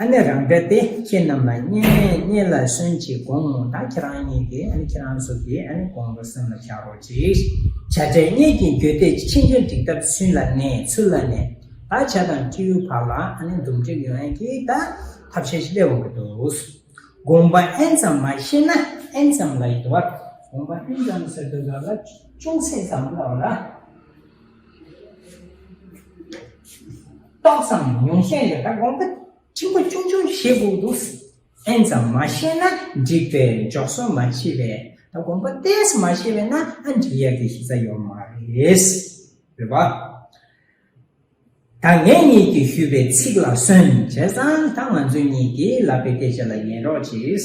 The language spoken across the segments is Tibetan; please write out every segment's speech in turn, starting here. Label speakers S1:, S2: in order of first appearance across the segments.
S1: ཨ་ནི་རང་འདྲ་སྟེ་ཁྱེད་རྣམས་ལ་བསྙེན་གནས་བསྙེན་ལ་གསོན་ཅིག་དགོངས་མོ་ད་ཁྱེད་རང་བསྙེན་ཏེ་ཨ་ནི་ཁྱེད་རང་གཟུགས་ཀྱིས་ཨ་ནི་དགོངས་པ་སེམས་ལ་བཞག་རོགས་ཅིག། བྱ་བྲལ་བསྙེན་གྱིས་འགྱོད་དེ་ཕྱིན་ཅི་འགྲིགས་ཐབས་ཚུན་ལ་ནས་ཚུར་ལ་ནས་ད་བྱ་དང་སྤྱི་ཡུལ་བར་ལ་ཨ་ནི་འདུམ་འགྲིགས་ཡོད་ཨན་གྱིས་ད་ཐབས་ཤེས་ཤི་ལེ་འོང་གི་འདུག་དགོངས་པ་ཨེན་ཙམ་མ་ཤེས་ན་ཨེན་ཙམ་ལ་ཡི་དོ་བར་དགོངས་པ་ཨེན་ཙམ་ཟེར་དུས་ལ་ལ་ཅུང་ཟད་ཙམ་ལ་བ་ལ། ཏོག་ཙམ་ཉུང་ཤས་ཡོད་ན་དགོངས་པ་ཆེན་པོ་ཆུང་ཆུང་བཞེད་དགོས་འདུག་ཨེན་ཙམ་མ་ཤེས་ན་འགྲིག་པས་འཇོག་སྲོལ་མ་མཆིས་པས་ད་དགོངས་པ་གཏད་མ་ཤེས་པས་ན་ཨ་འགྲིག་ཡ་གི་ཤེས་རྩ་ཡོད་མ་རེད། འོད་པ། ད་ངེད་གཉིས་ཀྱིས་ཞུས་པའི་ཚིག་ལ་སོན་བྱས་ཙང་ད་ང་ཚོའི་གཉིས་ཀྱིས་ལབ་པའི་སྐད་ཆ་ལ་ཉན་རོགས་གྱིས།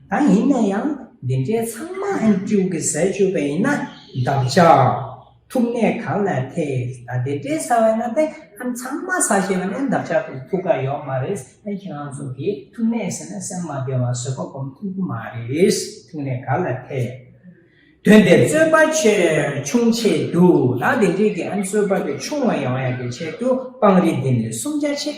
S1: ད་ཡིན་ན་ཡང་འདི་འདྲའི་ཚང་མ་ཨེམ་ཀྲིའུ་གི་ཟས་སྤྱོད་པ་ཡིན་ན་འདབ་ཆགས་ཐུག་གནས་གང་ལ་ཐེས་ད་དེ་འདྲའི་ཟ་བ་ན་ཏེ་ཨེམ་ཚང་མ་ཟ་བྱེད་པ་ནས་འདབ་ཆགས་ཐུག་ཐུག་ག་ཡོག་མ་རེད་ཨེ་ཁྱེད་རང་ཚོ་གི་ཐུག་གནས་ཟེར་ན་སེམས་མ་བདེ་བ་བཟོད་པ་གོམས་ཐུབ་ཀྱི་མ་རེད་ཐུག་གནས་ག་ལ་ཐེས་དོན་དེ་རྩོད་པ་ཆེས་ཆུང་ཆེད་དུ་ད་དེ་འདྲའི་གི་ཨེམ་གསོད་པ་དེ་ཆུང་བ་ཡོང་ཡག་གི་ཆེད་དུ་སྤང་རི་འདི་ནས་སུམ་བརྒྱ་ཕྱེད་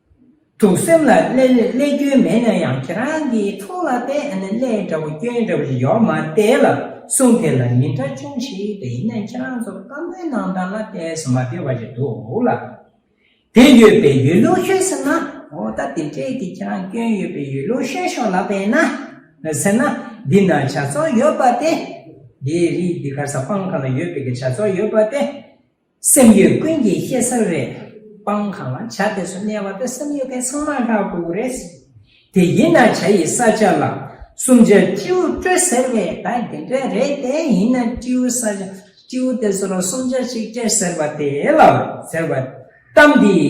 S1: དུག་སེམས་ལ་ཀླད་སྐྱོན་མེད་ན་ཡང་ཁྱེད་རང་གི་ཐུགས་ལ་དེ་ཨ་ནི་ཀླད་འདྲ་བོ་སྐྱོན་འདྲ་བོ་ཞིག་ཡོད་མ་དེ་ལ་གསུངས་དེ་ལ་མི་འདྲ་ཆུང་ཞིག་དེ་ཡིན་ན་ཁྱེད་རང་ཚོ་བཀའ་མོལ་གནང་སྟངས་ལ་དེ་ཟ་མ་དེ་བ་ཞིག་འདུག་ལ། དེ་ཡོད་པའི་ཡུལ་ལུགས་ཤོད་ཟེར་ན་འོ་ད་དེ་འཕྲལ་གྱི་ཁྱེད་རང་སྐྱོན་ཡོད་པའི་ཡུལ་ལུགས་ཤོད་ཤོག་ལབ་པས་ན་ཟེར་ན་འདི་ན་བྱ་ཚོགས་ཡོད་པ་དེ། འདིའི་རིགས་འདི་ག་ས་སྤང་གང་ན་ཡོད་པའི་གི་བྱ་ཚོགས་ཡོད་པ་དེ། སེམས་ཡོད་ཀུན་གྱིས་བཤད་ས་རེད། སྤང་གང་ལ་བྱ་དེ་སུ་གནས་བ་དེ་སེམས་ཡོད་མཁན་ཚང་མ་ལྷག་དགོས་ཀྱི་རེད། དེ་ཡིན་ན་བྱ་ཡི་ས་ཆ་ལ། སུམ་ཆ་སྤྲེའུ་སྤྲོད་ཟེར་བས་ད་དེ་འདྲ་རེད་དེ་ཡིན་ན་སྤྲེའུ་ས་ཆ་སྤྲེའུ་དེ་ཚོ་ལ་སུམ་ཆ་ཞིག་སྤྲད་ཟེར་བ་དེ་ལ་ཟེར་བ། གཏམ་འདི།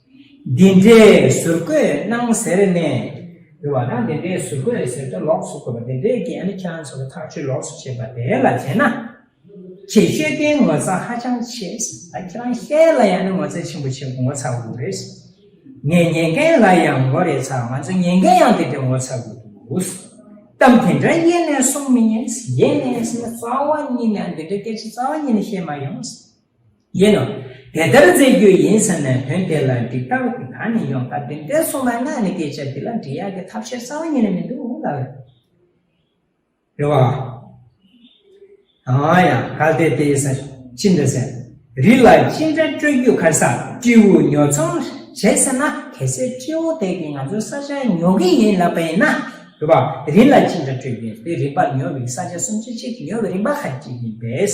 S1: འདི་འདྲའི་ཟུར་བཀོད་གནང་ཟེར་ནས་འགྱུར་བ་དང་འདི་འདྲའི་ཟུར་བཀོད་ཟེར་ཏེ་ལོགས་སུ་བཀོད་པ་དེ་འདྲའི་རྐྱེན་ནི་ཁྱེད་རང་ཚོ་ལ་ཐག་གཅོད་ལོགས་སུ་བྱེད་པ་དེ་ལ་བྱས་ན། ཁྱེད་དཔྱོད་ལྡན་ངོ་ཚ་ཧ་ཅང་ཆེ། ད་ཁྱེད་རང་ཤེད་ལ་ཡང་ནི་ངོ་ཚ་ཆེན་པོ་བྱེད་ངོ་ཚ་དགོས་རེད། ངས་ཉན་མཁན་ལ་ཡང་ངོ་རེ་ཚ་ང་ཚོ་ཉན་མཁན་ཡང་དེ་འདྲའི་ངོ་ཚ་དགོས་འདུག་གཏམ་དེ་འདྲ་ཡེ་ནས་གསུང་མི་ཉན། ཡེ་ནས་ཟེར་ན་རྩ་བ་ཉིད་ནས་འདི་འདྲའི་སྐད་ཆ་རྩ་བ་ཉིད་ནས་བཤད་མ་ཡོང། ཡིན་ནོ། དེ་ལྟར་མཛད་རྒྱུ་ཡིན་ཟེར་ནས་དོན་དེ་ལ་འགྲིག་ལྟ་བུ་དེ་གང་ནས་ཡོང་བཀའ་དྲིན་དཔལ་གསུངས་མ་གནང་ནི་སྐད་ཆ་འདི་ལ་འདྲི་ཡག་གི་ཐབས་ཤེས་གསང་བ་ཉིད་ནས་མི་འདུག་ལབ་ལ། རེ་བ། ཡང་ཡང་ག་དེ་དེ་ཟེར་ཅི་འདི་ཟེར་རི་ལ་ཅི་འདྲ་སྤྲོད་རྒྱུ་གར་ས་སྤྲེའུ་ཉོ་ཚོང་བྱེད་ཟེར་ན་གལ་སྲིད་སྤྲེའུ་དེ་གིས་ང་ཚོའི་ས་ཆ་ཉོ་གི་ཡིན་ལབ་པ་ཡིན་ན། རེ་བ། རི་ལ་ཅི་འདྲ་སྤྲོད་རྒྱུ་ཡིན་དེ་རིན་པ་ཉོ་བའི་ས་ཆ་སུམ་ཅུ་གཅིག་ཉོ་བའི་རིན་པ་ཧ་ཅིག་ཡིན་པས།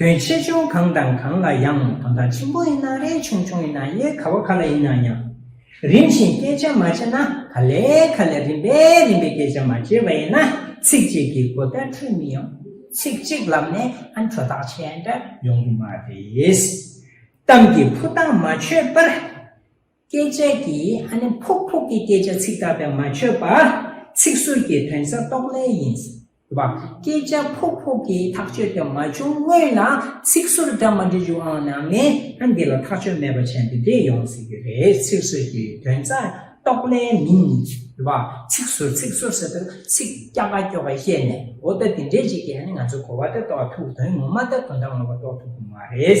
S1: དོན་ཆེ་ཆུང་གང་དང་གང་ལ་ཡང་དོན་དག་ཆེན་པོ་ཡིན་ན་རེ་ཆུང་ཆུང་ཡིན་ན་ཡེ་ག་བ་ག་ལ་ཡིན་ན་ཡང་རིམ་བཞིན་སྐད་ཆ་མ་བྱས་ན་ག་ལས་ག་ལས་རིམ་པས་རིམ་པས་སྐད་ཆ་མ་བྱས་པ་ཡིན་ན་ཚིག་གཅིག་གིས་གོ་བརྡ་འཕྲོད་མི་ཡོང། ཚིག་གཅིག་ལབ་ནས་ཨ་འཕྲོ་ཐག་ཆད་འདྲ་ཡོང་གི་མ་རེད། གཏམ་གྱི་ཕུ་ཐག་མ་ཆོད་པར། སྐད་ཆ་གྱི་ཧ་ནི་ཕུག་ཕུག་གི་སྐད་ཆ་ཚིག་དག་པས་མ་ཆོད་པ། ཚིག་ཟུར་གྱི་དོན་ས་རྟོགས་ལེ་ཡིན། བ། སྐད་ཆ་ཕུག་ཕུག་གི་ཐག་གཅོད་དེ་མ་བྱུང་སྔོན་ལ་ཚིག་ཟུར་འདྲ་མ་འདྲ་འཇུག་ཨང་ན་མེད་ན་འདི་ལ་ཐག་གཅོད་མེད་པ་བྱས་འདི་འདྲས་ཡོང་སྲིད་ཀྱི་རེད་ཚིག་ཟུར་གྱི་དོན་ས་རྟོགས་ལེ་མིན། བ། ཚིག་ཟུར་ཚིག་ཟུར་ཟེར་དུས་ཚིག་སྐྱ་ཀ་སྐྱོ་ཀ་བཤད་ནས་འོ་ད་འདི་འདྲས་ཅིག་གིས་ཧ་ནི་ང་ཚོའི་གོ་བ་དེ་རྟོགས་ཐུབ་དོན་ངོ་མ་ད་དོན་དག་ངོ་མ་རྟོགས་ཐུབ་ཀྱི་མ་རེད།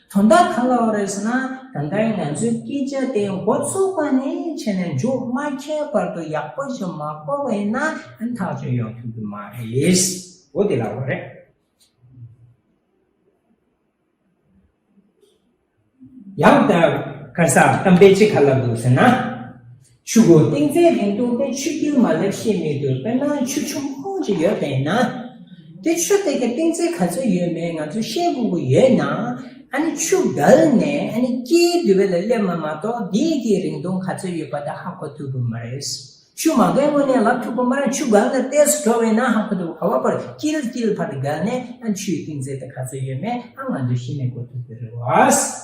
S1: དོན་དག་ག་ལ་བ་རེད་ཟེར་ན་ད་ལྟ་ང་ཚོའི་སྐད་ཆ་དེ་འགོ་བཙུགས་པ་ནས་ཕྱི་ནས་མཇུག་མ་ཁྱེར་བར་དུ་ཡག་པོ་ཞིག་མ་གོ་བས་ན་ཐག་གཅོད་ཡོང་ཐུབ་ཀྱི་མ་རེད། འོ་དེ་ལ་བ་རེད། ཡང་དག་ག་ས་གཏམ་དཔེ་ཅི་ག་ལ་འདུག་ཟེར་ན། ཆུ་འགོ་སྟེང་རྩྭའི་རིང་ཐུང་སྟེ་ཆུ་རྒྱུན་མ་ལེགས་ཤེས་མེད་དུ་དཔེར་ན་ཆུ་ཆུང་ཁོང་ཅིག་ཡོད་པས་ན། དེ་ཆུ་དེ་གའི་སྟེང་རྩྭའི་ག་ཚོད་ཡོད་མེད་ང་ཚོས་ཤེས་དགོས་ཀྱི་ཡོད་ན། ཨ་ནི་ཆུ་བརྒལ་ནས་ཨ་ནི་སྐྱེའི་དུས་བས་ལ་སླེབས་མ་མ་གཏོགས་དེ་གའི་རིང་ཐུང་ག་ཚོད་ཡོད་པ་དེ་ཧ་གོ་ཐུབ་ཀྱི་མ་རེད། ཆུ་མ་བརྒལ་སྔོན་ནས་ལབ་ཐུབ་ཀྱི་མ་རེད་ཆུ་བརྒལ་ནས་གཏད་སོ་འགྲོ་བས་ན་ཧ་གོ་ཐུབ་ཀྱི་ཧ་བ་པར་དཀྱིལ་དཀྱིལ་བར་བརྒལ་ནས་ཨ་ནི་ཆུའི་སྟེང་རྩྭའི་དེ་ག་ཚོད་ཡོད་མེད་ཨ་ང་ཚོས་ཤེས་མེད་གོ་ཐུབ་ཀྱི་རེད།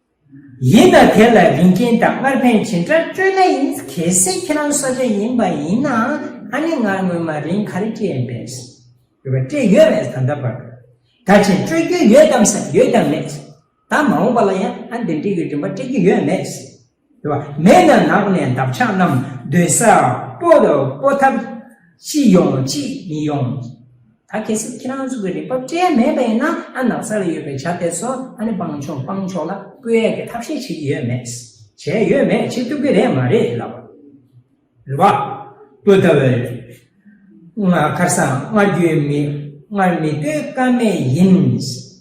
S1: ཡིན་ན་དེ་ལ་རིན་ཆེན་དང་སྔར་ཕན་ཇི་འདྲ་སྤྲོད་ན་ཡིན་གལ་སྲིད་ཁྱེད་རང་གསོ་བྱེད་ཡིན་པ་ཡིན་ན་ཨ་ནི་ང་སྔོན་མ་རིན་ག་རེ་སྤྲད་པས། ཡོད་པ་སྤྲད་ཡོད་མེད་ད་ལྟ་བར། ད་ཕྱིན་སྤྲོད་རྒྱུ་ཡོད་དམ་ཟེར་ན་ཡོད་ཀྱང་མེད། ད་མ་འོངས་པ་ལ་ཡང་ཨ་འདི་འདྲི་གི་རིན་པ་སྤྲད་རྒྱུ་ཡོད་མེད། ཡོད་པ་མེད་ན་ནགས་ནས་འདབ་ཆགས་རྣམས་སྡོད་ས་སྤོ་ཐབས་ཅི་ཡོང་ཅི་མི་ཡོང། ད་གལ་སྲིད་ཁྱེད་རང་ཚོ་གི་རིག་པ་སྤྲད་ཡ་མེད་པ་ཡིན་ན་ཨ་ནག་ས་ལ་ཡོད་པའི་བྱ་དེ་ཚོ་ཨ་ནི་སྤང་ཆོག་སྤང་ཆོག་ལ་བསྐོས་ཡ་གི་ཐབས་ཤེས་བྱེད་ཀྱི་ཡོད་མེད། བྱས་ཡོད་མེད་བྱེད་ཐུབ་ཀྱི་རེད་མ་རེད་ལབ་པ། རེད་བ། བཀོད་ལྟ་བུ་རེད། ང་ཁར་སང་སྔར་རྒྱུའི་མི་སྔར་མི་བསྟོད་ཀ་མེད་ཡིན།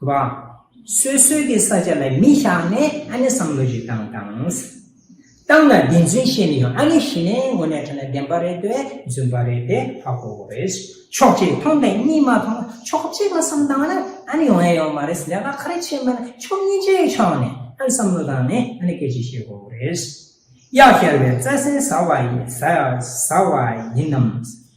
S1: བ། སོ་སོའི་གི་ས་ཆ་ལ་མི་བཞག་ནས་ཨ་ནི་བསམ་བློ་ཞིག་བཏང་དང། བཏང་ན་བདེན་རྫུན་ཤེས་ནི་ཡོང་ཨ་ནི་ཤེས་ནས་དངོས་གནས་ཁྲོ་ནས་བདེན་པ་རེད་དེ་རྫུན་པ་རེད་དེ་ཧ་གོ་དགོས་རེད། ཕྱོགས་གཅིག་མཐོང་དང་གཉིས་མ་མཐོང་ན་ཕྱོགས་གཅིག་ལ་བསམ་བཏང་ན་ཨ་ནི་ཡོང་ཡ་ཡོང་མ་རེད་ལས་ཀ་ཁ་རེ་བྱེད་མིན་ན་ཕྱོགས་གཉིས་ཀྱི་ཕྱོགས་ནས་ཨ་ནི་བསམ་བློ་བཏང་ནས་ཨ་ནི་སྐད་ཅིག་བཤད་དགོས་རེད། གཡག་ཤར་བའི་རྩྭ་སའི་ཟ་བ་ཡིན་ཟ་བ་ཡིན་ནམ།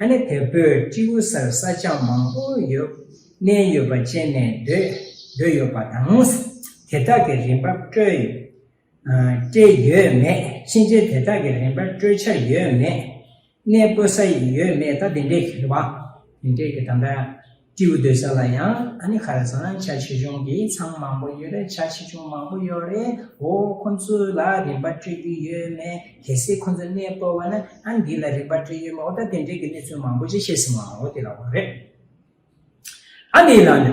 S1: ཨ་ནེ་དེ་བོད་སྤྱི་བོད་སར་ས་ཆ་མང་པོ་ཡོད་གནས་ཡོད་པ་བཅས་ནས་སྡོད་ཡོད་པ་དང། དེ་དག་གི་རིན་འབབ་སྤྲོད་སྤྲད་ཡོད་མེད་ཕྱིན་ཆད་དེ་དག་གི་རིན་འབབ་སྤྲོད་འཆར་ཡོད་མེད་གནས་སྤོ་ས་ཡོད་མེད་ད་དེ་འདྲའི་གི་ད་ལྟ་སྤྲེའུ་སྡོད་ས་ལ་ཡང་ཨ་ནི་ཁ་ར་ཟངས་ཆ་ཆེ་ཆུང་གི་ཚང་མང་པོ་ཡོད་རེད་ཆ་ཆེ་ཆུང་མང་པོ་ཡོད་རེད་འོ་ཁོ་ཚོ་ལ་རིན་པ་སྤྲོད་རྒྱུ་ཡོད་མེད་གལ་སྲིད་ཁོ་ཚོ་གནས་སྤོ་བ་ན་ཨ་འདི་ལ་རིན་པ་སྤྲོད་ཡོད་མེད་འོ་ད་དེ་འབྲེལ་གྱི་གནས་ཚུལ་མང་པོ་ཅིག་ཤེས་སྲིད་མ་འོ་དེ་ལ་འོ་རེད་ཨ་འདི་ལ་ནི།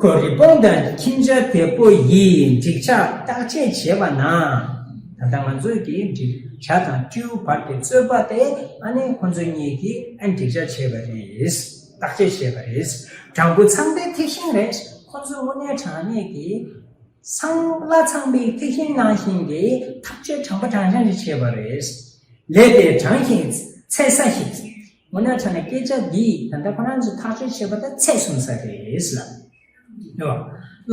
S1: ཁོས་རི་བོང་དང་ཁྱིམ་བྱ་དེ་ཕོ་ཡིས་འགྲིག་ཆགས་བརྟག་དཔྱད་བྱས་པ་ན། ད་ལྟ་ང་ཚོས་ཀྱི་འགྲིག་ཆགས་དང་སྤྲེའུ་བར་གྱི་རྩོད་པ་དེ་ཨ་ནེ་ཁོ་ཚོ་གཉིས་ཀྱིས་ཨེ་འགྲིག་ཆགས་བྱས་པ་རེད། བརྟག་དཔྱད་བྱས་པ་རེད། སྦྲང་བུ་ཚང་པའི་ཐིག་ཤིང་རེད། ཁོ་ཚོས་དངོས་གནས་དྲང་གནས་ཀྱི། སྲང་ལ་ཚང་པའི་ཐིག་ཤིང་ནང་བཞིན་གྱི་ཐག་གཅོད་དྲང་པོ་དྲང་བཞག་ཅིག་བྱས་པ་རེད། ལས་དེ་དྲང་ཞིང་ཚད་ས་ཞིག་རེད། འོ་ན་ཆ་ན་སྐད་ཆ་འདི་ད་ལྟ་ཁོ་རང་ཚོས་ཐག་གཅོད་བྱེད་པ་དང་ཚད་གསུམ་ས་རེད་ལ། ཡོ།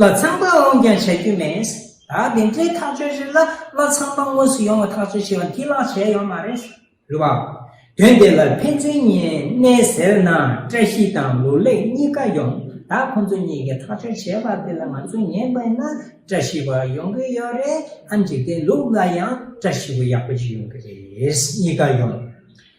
S1: ལ་ཚང་པ་འོང་ཀྱང་བྱ་རྒྱུ་མེད། ད་དེ་འདྲའི་ཐག་གཅོད་རེ་ལ་ལ་ཚང་པ་དངོས་སུ་ཡོང་བ་ཐག་གཅོད་བྱེད་པ་འདི་ལགས་བྱས་ཡོད་མ་རེད། རེད་བ། དོན་དེ་ལ་ཕན་ཚུན་གཉིས་གནས་ཟེར་ན་བཀྲ་ཤིས་དང་ལོ་ལེགས་གཉིས་ཀ་ཡོང་ད་ཁོང་ཚོ་གཉིས་ཀྱི་ཐག་གཅོད་བྱས་པ་དེ་ལ་ང་ཚོ་ཉན་པ་ཡིན་ན་བཀྲ་ཤིས་པ་ཡོང་གི་ཡོད་རེད་ཨ་འཇིག་རྟེན་ལུགས་ལ་ཡང་བཀྲ་ཤིས་པ་ཡག་པོ་ཞིག་ཡོང་གི་རེད་གཉིས་ཀ་ཡོང།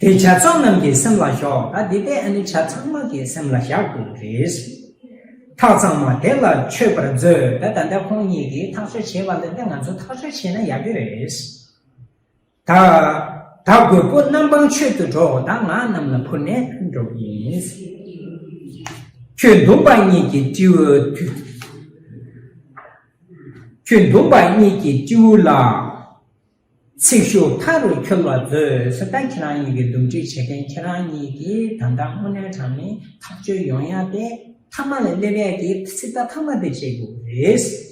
S1: དེ་བྱ་ཚོགས་རྣམས་ཀྱི་སེམས་ལ་ཞོག་ད་དེ་དེ་ཨ་ནི་བྱ་ཚང་མ་གི་སེམས་ལ་བཞག་དགོས་པ་རེད། ཐག་ཚང་མ་དེ་ལ་ཆོད་པར་མཛོད་ད་ད་ལྟ་ཁོང་གཉིས་ཀྱིས་ཐག་གཅོད་བྱེད་པ་ལས་ད་ང་ཚོ་ཐག་གཅོད་བྱས་ན་ཡག་གི་རེད། ད་ད་རྒོད་པོ་རྣམ་སྤང་ཆོད་དུ་འགྲོ་ད་ང་རྣམས་ལ་འཕུར་ནས་ཕུལ་འགྲོ་གི་ཡིན། ཁྱོད་འདུམ་པ་གཉིས་ཀྱི་སྤྲེའུ། ཁྱོད་འདུམ་པ་གཉིས་ཀྱི་སྤྲེའུ་ལ། ཚིག་ཤུགས་མཐའ་རུ་འཁྱོལ་བ་བཟོས་ད་ཁྱེད་རང་གཉིས་ཀྱི་འདུམ་འགྲིག་བྱེད་མཁན་ཁྱེད་རང་གཉིས་ཀྱི་ད་ལྟ་དངོས་གནས་དྲང་གནས་ཐག་གཅོད་ཡོང་ཡ་དེ་མཐའ་མ་ལས་སླེབས་ཡ་གི་ཚིག་ད་ཐ་མ་དེ་བྱེད་དགོས་རེད།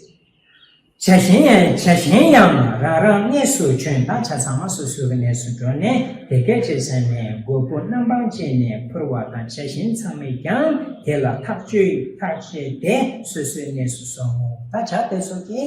S1: བྱ་གཞན་ཡང་བྱ་གཞན་ཡང་རང་རང་གནས་སུ་བྱོན་ད་ཆ་ཚང་མ་སོ་སོའི་གི་གནས་སུ་འགྲོ་ནས་དེ་སྐད་ཅེས་ཟེར་ནས་དགོས་པོ་རྣམ་པང་བཅད་ནས་ཕུར་བ་དང་བྱ་གཞན་ཚང་མས་ཀྱང་དེ་ལ་ཐག་གཅོད་ཐག་བཅད་དེ་སོ་སོའི་གནས་སུ་སོང་ད་ཆ་དེ་སོགས་ཀྱི།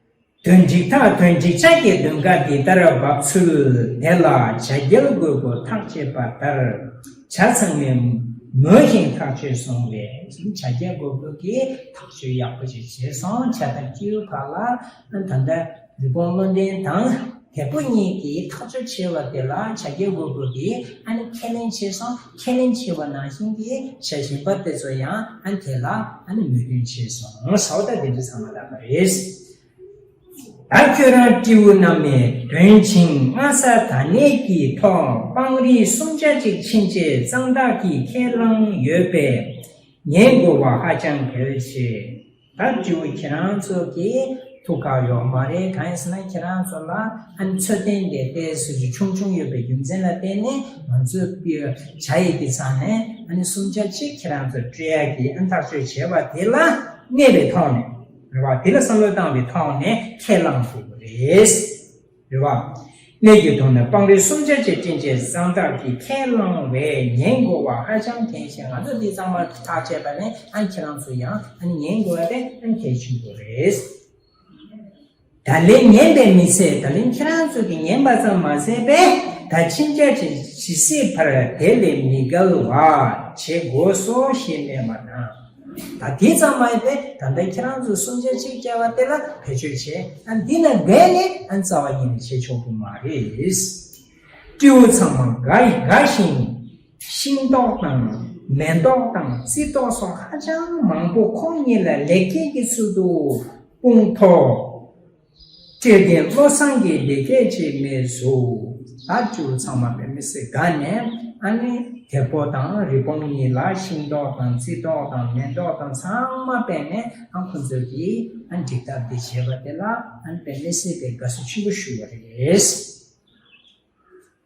S1: དོན་འགྲིག་ཐག་དོན་འགྲིག་ཆ་གྱི་དོན་ཁ་འདི་ལྟར་བབས་ཚུལ་དེ་ལ་བྱ་རྒྱལ་རྒོད་པོ་ཐག་བཅད་པ་ལྟར་བྱ་ཚང་མས་མོས་ཤིང་ཐག་ཆོད་སོང་བས་བྱ་རྒྱལ་རྒོད་པོ་གིས་ཐག་གཅོད་ཡག་པོ་ཞིག་བྱས་སོང་བྱ་ཐག་བཅད་ཡུལ་ཁག་ལ་ད་ལྟ་རི་བོང་བློ་ལྡན་དང། དེ་ཁོ་གཉིས་ཀྱིས་ཐག་གཅོད་བྱས་པ་དེ་ལ་བྱ་རྒྱལ་བོ་བོད་པས་ཨ་ནི་ཁས་ལེན་བྱས་སོང་ཁས་ལེན་བྱས་པ་ནང་བཞིན་གྱི་བྱ་བཞིན་པ་དེ་ཚོ་ཡང་ཨ་དེ་ལ་ཨ་ནི་མོས་མཐུན་བྱས་སོང་ངོ་ས་བ་ད་དེ་འདྲ་ཚང་མ་ལབ་པ་རེད། ད་ཁྱོད་རང་སྤྲེའུ་རྣམས་མའི་དོན་ཆིངས་སྔ་ས་ད་ནས་ཀྱི་ཐོག་སྤང་རི་སུམ་ཆ་གཅིག་ཕྱིན་རྗེས་གཙང་དག་གིས་ཁས་བླངས་ཡོད་པས་ངའི་དགོས་བ་ཧ་ཅང་གལ་ཆེ། ད་དྲི་བ་ཁྱེད་རང་ཚོ་གི་ཐུགས་ཁག་ཡོག་མ་རེད་གང་ཡིན་ཟེར་ན་ཁྱེད་རང་ཚོ་ལ་ཨ་ནི་ཚོད་ལྡན་འདས་དེ་སུ་ཅི་ཆུང་ཆུང་ཡོད་པའི་རྒྱུ་མཚན་ལ་བརྟེན་ནས་ང་ཚོས་བྱ་ཡི་དེ་ཚང་ནས་ཨ་ནི་གསུམ་ཆ་གཅིག་ཁྱེད་རང་ཚོ་སྤྲོད་ཡ་གི་ཨ་ནི་ཐག་གཅོད་བྱས་པ་དེ་ལ་གནས་པའི་ཐོག་ནས་རེད་བ་དེ་ལ་བསམ་བློ་བཏང་བའི་ཐོག་ནས་ཁས་བླངས་ཐུབ་པ་རེད། རེ་བ། གནས་ཀྱི་དོན་ནི་སྤང་རི་སུམ་ཆ་ཆེ་བསྐྲུན་ཆེད་བཟང་སྟག་གིས་ཁས་བླངས་བས་ཉན་དགོས་བ་ཧ་ཅང་གལ་ཆེ་ང་ཚོ་འདི་ཚང་མ་ཐག་བཅད་པ་ནས་ཨ་ཁྱེད་རང་ཚོ་ཡང་ཨ་ནི་ཉན་དགོས་བ་དེ་ཨ་ནི་གལ་ཆེན་པོ་རེད། ད་ལན་ཉན་པའི་མི་ཚད་ད་ལན་ཁྱེད་རང་ཚོ་གི་ཉན་པ་ཙམ་མ་ཟད་པས་ད་ཕྱིན་ཆད་ཇི་སྲིད་བར་དེ་ལས་མི་འགལ་བ་བྱེད་དགོས་སོ་ཞེས་སྨྲས་པ་དང། ད་དེ་ཙམ་མ་ཡིན་པས་ད་ལྟ་ཁྱེད་རང་ཚོས་སུམ་ཆ་གཅིག་བསྐྱལ་བ་དེ་ལ་བེད་སྤྱོད་བྱེད་ཨ་འདི་ལ་འགལ་ནི་ཨ་རྩ་བ་ཉིད་ནས་བྱེད་ཆོག་གི་མ་རེད། སྤྲེའུ་ཚང་མ་འགའ་ཡི་འགའ་ཞིག་ནི་ཤིང་ཏོག་དང་མེ་ཏོག་དང་རྩི་ཏོག་སོགས་ཧ་ཅང་མང་པོ་ཁོང་གཉིས་ལ་ལེགས་སྐྱེས་ཀྱི་ཚུལ་དུ་སྤུངས་ཐོག་སྤྲོས་བྲལ་བློ་བཟང་གིས་འདི་སྐད་ཅེས་སྨྲས་སོ། ད་ཅུ་བོ་ཚང་མ་བེམ་མི་སི་ག་ནས་ཨ་ནི་དེ་ཕོ་དང་རི་བོང་གཉིས་ལ་ཤིང་ཏོག་དང་རྩི་ཏོག་དང་མེ་ཏོག་དང་ཚང་མ་སྤེལ་ནས་ཨ་ཁོ་ཚོ་གིས་ཨ་འགྲིག་ཐབས་འདི་བྱས་པ་དེ་ལ་ཨ་བེམ་མི་སི་གས་དགའ་བསུ་ཆེན་པོ་ཞུ་བ་རེད།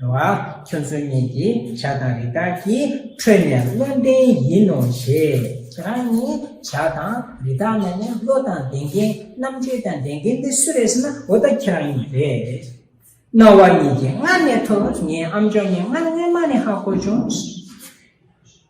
S1: བ། ཁྱོད་ཚོ་གཉིས་ཀྱི་བྱ་དང་རི་དྭགས་ཀྱི་ཁྲོད་ནས་བློ་ལྡན་ཡིན་ནོ་ཞེས། ཁྱོད་རང་གཉིས་བྱ་དང་རི་དྭགས་ནས་ནི་བློ་དང་ལྡན་མཁན་རྣམ་དཔྱོད་དང་ལྡན་མཁན་དེ་སུ་རེད་ཟེར་ན་འོ་ད་ཁྱེད་རང་གཉིས་རེད། རྣ་བ་གཉིས་ཀྱིས་སྔར་ནས་ཐོས་ངའི་ཨམ་ཅོག་ནི་སྔར་སྔོན་མ་ནས་ཧ་གོ་བྱུང།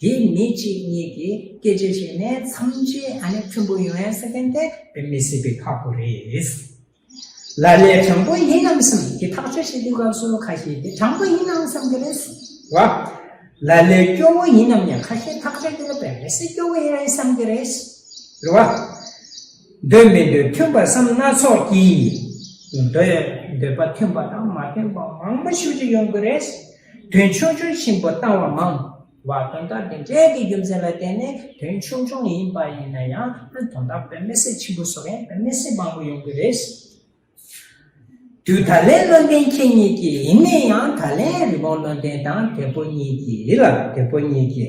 S1: དེ་ནི་གཅིག་གཉིས་ཀྱིས་སྐད་ཆ་བྱས་ནས་མཚམས་ཆད་ཨ་ནི་ཁྱུང་པོ་ཡོང་ཡ་ས་མཁན་དེ་བོད་མི་སྲིད་པའི་ཁག་པོ་རེད། ལ་ལས་དྲང་པོ་ཡིན་ནམ་བསམ་གི་ཐག་གཅོད་བྱེད་དུས་སྐབས་སུ་ཁ་ཤས་དེ་དྲང་པོ་ཡིན་ནམ་བསམ་གི་རེད་བསམ་བ། ལ་ལས་སྐྱོ་བོ་ཡིན་ནམ་ཡང་ཁ་ཤས་ཐག་གཅོད་དེ་ལ་བལ་བོད་སྲིད་སྐྱོ་བོ་ཡིན་རེད་བསམ་གི་རེད་ཟེར་བ། འདོད་མི་འདོད་མཐུན་པར་བསམ་སྣ་ཚོགས་ཀྱིས་འདོད། འདོད་པ་མཐུན་པ་དང་མ་མཐུན་པ་མང་པོ་ཞིག་ཅིག་ཡོང་གི་རེད། དོན་ཆུང་ཆུང་ཆེན་པོ་བཏང་བ་མང། བ་དོན་དག་འདི་འབྲས་ཀྱི་རྒྱུ་མཚན་ལ་བརྟེན་ནས་དོན་ཆུང་ཆུང་ཡིན་པ་ཡིན་ན་ཡང་དོན་དག་བོད་མི་སེར་ཆེན་པོ་སོགས་ཡང་བོད་མི་སེར་མང་པོ་ཡོང་གི་རེད། དུས་ད་ལན་བློ་ལྡན་ཁྱེད་གཉིས་ཀྱི་ཡིན་ནས་ཡང་ད་ལན་རི་བོང་བློ་ལྡན་དང་དེ་ཕོ་གཉིས་ཀྱི་ཡིད་ལ་དེ་ཕོ་གཉིས་ཀྱི།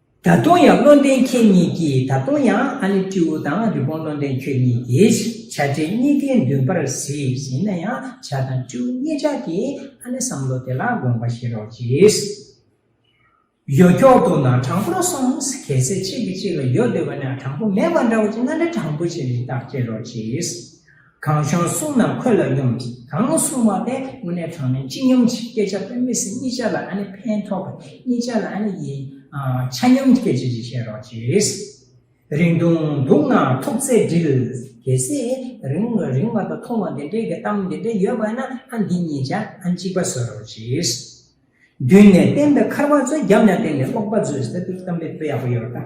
S1: ད་དུང་ཡང་བློ་ལྡན་ཁྱེད་གཉིས་ཀྱིས་ད་དུང་ཡང་ཨ་ནེ་སྤྲེའུ་དང་རི་བོང་བློ་ལྡན་ཁྱོད་གཉིས་ཀྱིས་བྱ་བྲལ་གཉིས་ཀའི་མདུན་པར་གཟིགས་ཟིན་ན་ཡང་བྱ་དང་སྤྲེའུ་གཉིས་ཅག་གིས་ཨ་ནེ་བསམ་བློ་དེ་ལ་དགོངས་པ་བཞེས་རོགས་གྱིས། ཡོ་འཁྱོག་ཏུ་ན་དྲང་པོར་སོང་གལ་སྲིད་གཅིག་གིས་གཅིག་ལ་ཡོ་འདོད་པ་ན་དྲང་པོ་མེད་པ་འདྲ་བོ་ཅིག་ན་འདྲ་དྲང་པོ་ཞིག་རིགས་བདག་བསྐྱེད་རོགས་གྱིས། གང་བྱང་གསུང་རྣམས་ཁོད་ལ་སྙོམས་ཀྱི། གང་གསུང་བ་དེ་དངོས་གནས་དྲང་ནས་ཅི་སྙོམས་ཀྱི་སྐད་ཆ་དཔེ་མི་སྲིད་གཉིས་ཆ་ལ་ཨ་ནི་ཕན་ཐོགས་པས་གཉིས་ཆ་ལ་ཨ་ནི་ཡི། ཆ་སྙོམས་སྐད་ཅིག་ཅིག་བཤད་རོགས་གྱིས། རིང་ཐུང་དུག་ནག་ཐུག་ཚད་འདྲིལ། གལ་སྲིད་རིང་བ་རིང་བ་དང་ཐུང་བ་འདི་འདྲའི་གི་གཏམ་འདི་འདྲའི་ཡོད་པ་ན་ཨ་འདི་གཉིས་ཆ་ཨ་གཅིག་པ་བཟོས་རོགས་གྱིས། མདུན་ནས་བསྟན་པའི་འཁར་བ་བཟོས་རྒྱབ་ནས་བསྟན་པའི་ཀློག་པ་བཟོས་ཟེར་དུས་གཏམ་དཔེ་དཔེ་ཡག་པོ་ཡོད་རེད་ད།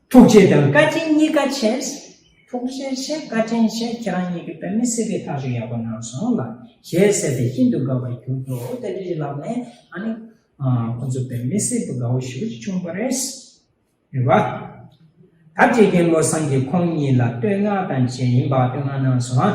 S1: ཐུགས་རྗེ་དང་བཀའ་དྲིན་གཉིས་ཀ་ཆེས། ཐུགས་རྗེ་ཆེ་བཀའ་དྲིན་ཆེ་ཁྱེད་རང་གཉིས་ཀྱི་བོད་མི་སེར་སྐྱ་ཐག་གཅོད་ཡག་པོ་གནང་སོང་ལ་ཞེས་ཟེར་ཏེ་ཤིན་ཏུ་དགའ་བར་གྱུར་འདུག་དེ་འདྲ་ཞིག་ལབ་ནས་ཨ་ནི། ཁོ་ཚོ་བོད་མི་སེར་སྤུ་དགའ་བོ་ཞིག་ལ་བྱུང་བ་རེད། རེད་བ། ད་བཀྲིས་རྒན་བློ་བཟང་གིས་ཁོང་གཉིས་ལ་བསྟོད་བསྔགས་དང་བཅས་ཡིན་པ་བསྟོད་བསྔགས་གནང་སོང་ཨ།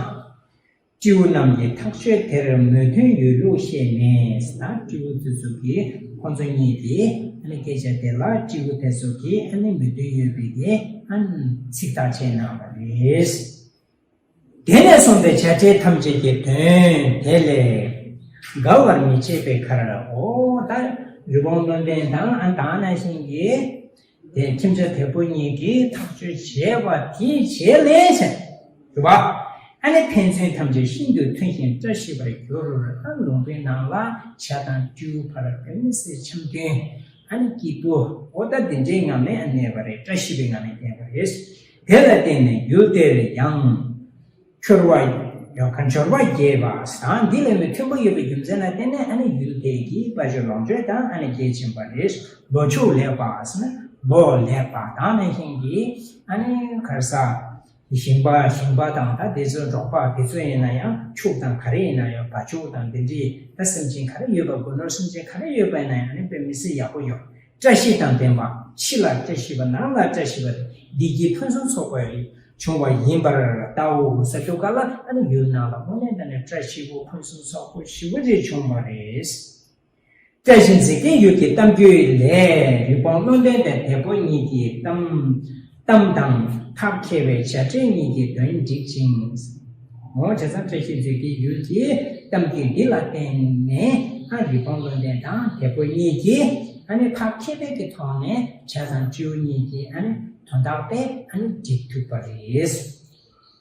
S1: སྤྲེའུ་རྣམས་ཀྱིས་ཐག་གཅོད་དེར་མོས་མཐུན་ཡོད་ལུགས་བཤད་ནས་ན་སྤྲེའུ་དེ་ཚོ་གིས་ཁོ་ཚོ་གཉིས་ཀྱིས་ཨ་ནི་སྐད་ཆ་དེ་ལ་སྤྲེའུ་དེ་ཚོ་གིས་ཨ་ནི་མོས་མཐུན་ཡོད་པའི་དེ་ཨ་ནི་ཚིག་ཐག་བཅད་གནང་བ་རེད། དེ་ནས་གསུངས་པའི་བྱ་བྲལ་ཐམས་ཅད་ཀྱི་དོན་དེ་ལས་འགལ་བར་མི་བྱེད་པའི་ཁར་ཨོ་ད་རི་བོང་བློན་ལྡན་དང་ཨ་ད་ཨ་ན་ཤིང་གིས། དེས་ཁྱིམ་བྱ་དེ་པོ་གཉིས་ཀྱིས་ཐག་གཅོད་བྱས་པ་དེའི་བྱེད་ལས་བྱེད་པ་ཨ་ནི་ཕན་ཚུན་ཐམས་ཅད་ཤིན་ཏུ་མཐུན་ཞིང་བཀྲ་ཤིས་པར་གྱུར་ཨ་ལུང་པའི་ནང་ལ་བྱ་དང་སྤྲེའུ་བར་བོད་མི་སེར་འཆམ་མཐུན་ཨ་ནི་སྐྱིད་པོ་ཨོ་ད་འདི་འདྲའི་ངང་ནས་གནས་པ་རེད་བཀྲ་ཤིས་པའི་ངང་ནས་གནས་པ་རེད་དེ་ལ་བརྟེན་ནས་ཡུལ་དེར་ཡང། འབྱོར་བ། ཡོང་ཁ་འབྱོར་བ་རྒྱས་པ་དང་འདི་ལས་མི་མཐོན་པོ་ཡོད་པའི་རྒྱུ་མཚན་ལ་བརྟེན་ནས་ཨ་ནི་ཡུལ་དེ་གའི་དཔལ་འབྱོར་ལོངས་སྤྱོད་དང་ཨ་ནི་གལ་ཆེན་པ་རེད་ལོ་ཕྱུགས་ལེགས་པ་ལོ་ལེགས་པ་དང་ནས་ཤིང་གི་ཨ་ནི་ཁར་ས། ཞིང་པ་ཞིང་པ་དང་ད་དེ་ཚོའི་འབྲོག་པ་དེ་ཚོ་ཡིན་ན་ཡང་ཕྱུགས་དང་ག་རེ་ཡིན་ན་ཡང་བ་ཕྱུགས་དང་འདི་འདྲིས་ད་སེམས་ཅན་ག་རེ་ཡོད་པ་དགོས་ནོར་སེམས་ཅན་ག་རེ་ཡོད་པ་ཡིན་ན་ཡང་ཨ་ནི་དཔེ་མི་སྲིད་ཡག་པོ་ཡོང་བཀྲ་ཤིས་དང་ལྡན་པ་ཕྱི་ལ་བཀྲ་ཤིས་པ་ནང་ལ་བཀྲ་ཤིས་པ་བདེ་སྐྱིད་ཕུན་སུམ་ཚོགས་པའི་རིགས་འབྱུང་བ་ཡིན་པར་བལྟའོ་ས་ཐུབ་ཀ་ལ་ཨ་ནུ་ཡུལ་ནང་ལ་དངོས་གནས་ད་ནི་བཀྲ་ཤིས་པོ་ཕུན་སུམ་ཚོགས་པོ་ཞི་བ་རེ་བྱུང་བ་རེད། བཀྲ་ཤིས་འཇིག་རྟེན་ཡུལ་གྱི་གཏམ་རྒྱུད་ལས་རི་བོང་བློ་ལྡན་དང་དད་པོ་གཉིས་ཀྱི་གཏམ། གཏམ་དང་ཐབས་མཁས་པའི་བྱ་བྲལ་གཉིས་ཀྱི་དོན་འགྲིག་ཅིང། ངོ་བོ་ཇེ་བཟང་བཀྲ་ཤིས་མཛོད་ཀྱི་ཡུལ་གྱི་གཏམ་རྒྱུད་འདི་ལ་བརྟེན་ནས་ཨ་རིག་པང་བློ་ལྡན་དང་དེ་ཕོ་གཉིས་ཀྱིས་ཨ་ནི་ཐབས་མཁས་པའི་ཀྱི་ཐོག་ནས་བྱ་བཟང་སྤྱི་བོ་གཉིས་ཀྱི་ཨ་ནི་དོན་དག་པས་ཨ་ནི་འགྲིག་ཐུབ་པ་རེད།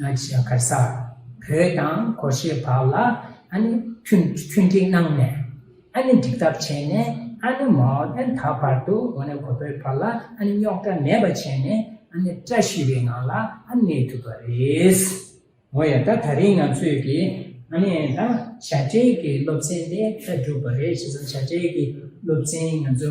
S1: ང་ཆེ་ས་གར་ས་བོད་དང་གོ་ཤེས་བར་ལ་ཨ་ནི་མཐུན་འགྲིག་གནང་ནས་ཨ་ནི་འགྲིག་ཐབས་བྱས་ནས་ཨ་ནི་མའོ་ཏན་ད་བར་དུ་ངོ་ནས་གོ་བོད་བར་ལ་ཨ་ནི་རྙོག་དྲ་མེད་པ་བྱས་ནས་ཨ་ནི་བཀྲ་ཤིས་པའི་ངང་ལ་ཨ་ནི་གནས་ཐུབ་པ་རེད། ངོ་ཡ་ད་ད་རིང་ང་ཚོས་ཀྱི་ཨ་ནི་ད་བྱ་བྲལ་གྱི་སློབ་ཚན་དེ་ད་སྒྲུབ་པ་རེད་བྱས་ཙང་བྱ་བྲལ་གྱི་སློབ་ཚན་ང་ཚོ